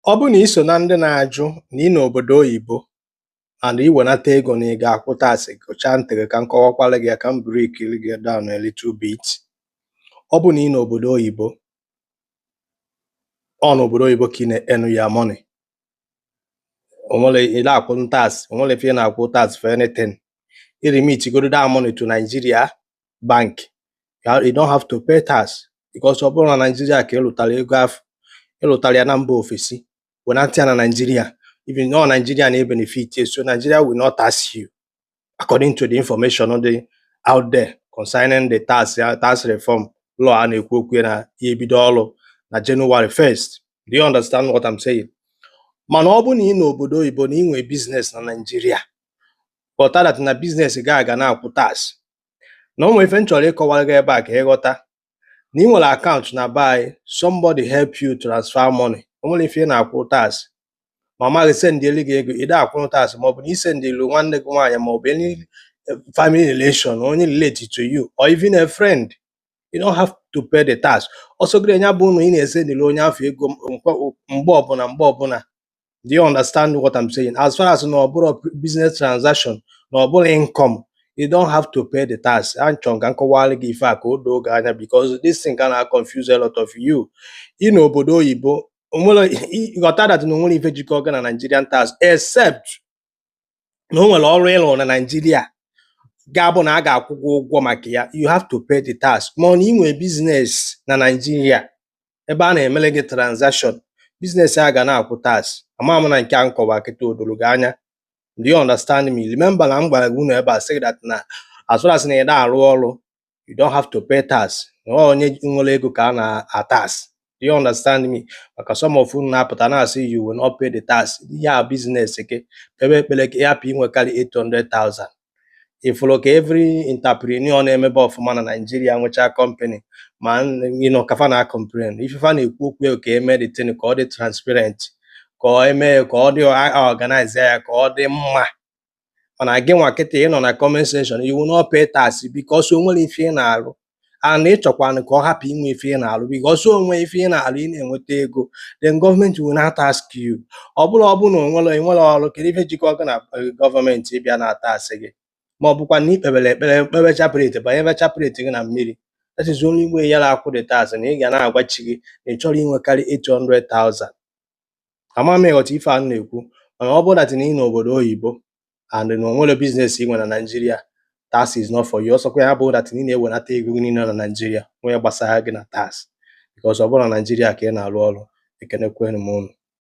Ọ bụrụ na i so na ndị na-ajụ na ị n'obodo oyibo and i wenata ego na ị ga-akwụ tax, gụchaa ntị gị ka m kọwakwara gị ya ka m breakiri gị down a little bit. Ọ bụrụ na ị n'obodo oyibo, ọ n'obodo oyibo ka ị na-earn your money. O nwerọ ị na-akwụ tax, o nwerọ ife ị na-akwụ tax for anything. I remit godo that money to Nigeria, bank you don't have to pay tax because ọ bụrọ na Naịjirịa ka ị lụtara ego afụ ị lụtara ya na mba ofesi wenata ya na Naịjirịa even though Nigeria na benefit so Nigeria will not tax you according to the information on the out there concerning the tax tax reform law a na-ekwu okwu na ya ebido ọrụ na January 1st do you understand what I'm saying mana ọ bụ na ị n'obodo oyibo na ị nwee biznes na Naịjirịa ghọta that na biznes gị a ga na-akwụ tax na o nwere ife m chọrọ ịkọwara gị ebe a ka ị ghọta na ị nwere akaụntụ na be anyị somebody help you transfer money o nwerọ ife ị na-akwụ tax mama gị sendịelu gị ego ide akwụrụ tax ma ọ bụ na i sendịelu nwanne gị nwaanyị ma ọ bụ any eh, family relation onye relate to you or even a friend you don't have to pay the tax ọ sọ gị nya bụ na ị na-esendịelu onye afụ ego mkwa- mgbe ọbụla mgbe ọbụla do you understand what i'm saying as far as na ọ bụrọ business transaction na ọ bụrọ income you don't have to pay the tax achọ m ka m kọwara gị ife a ka o doo gị anya because this thing ka na confuse a lot of you ị na obodo oyibo onwerọ ị- ghọta that na onwerọ ife jikọ gị na nigerian tax except na o nwere ọrụ ị rụ na Naịjirịa ga-abụ na a ga-akwụ gị ụgwọ maka ya you have to pay the tax ma ọ na ị nwee biznes na Naịjirịa ebe a na-emere gị transaction biznes a ga na-akwụ tax ama m na nke a m kọwa kịta o doro gị anya do you understand me remember na m gwara gị unu ebe a sị that na as far as na ị na-arụ ọrụ you don't have to pay tax na ọ onye nwere ego ka a na-atax do you understand me maka some of unu na-apụta na-asị you will not pay the tax ihe a biznes gị kpebe ekpere ka ị hapụ inwekarị 800,000 ị fụrọ ka every entrepreneur na-emebe ọfụma na Naịjirịa nwechaa company ma n- you know, ka fa na complain ife fa na-ekwu okwu ya ka e mee the thing ka ọ dị transparent ka e mee ya ka ọ dị a- organize ya ka ọ dị mma mana gị nwa kịta ị nọ na comment section you will not pay tax because o nwerọ ife ị na-alụ and ị chọkwana ka ọ hapụ inwe ife ị na-alụ because o nwee ife ị na-alụ ị na-enweta ego then gọọmenti will now tax you ọ bụrụ ọ bụrụ na onwerọ inwerọ ọrụ kedu ife jikọ gị na eh, gọọmenti ịbịa na-atax gị ma ọ bụkwa na i kpebere ekpere kpebe chaplet banyebe chaplet gị na mmiri that is only way ya na-akwụ the tax na ị ga na-agwa chi gị na ị chọrọ inwekarị 800,000 ama m ị ghọta ife a m na-ekwu mana ọ bụrụ that na ị n'obodo oyibo and na o nwerọ biznes ị nwe na Naịjirịa tax is not for you ọ sọkwa ya bụrụ that na ị na-ewenata ego gị niile na Naịjirịa nwee gbasara gị na tax because ọ bụrọ na Naịjirịa ka ị na-arụ ọrụ ekenekwenu m unu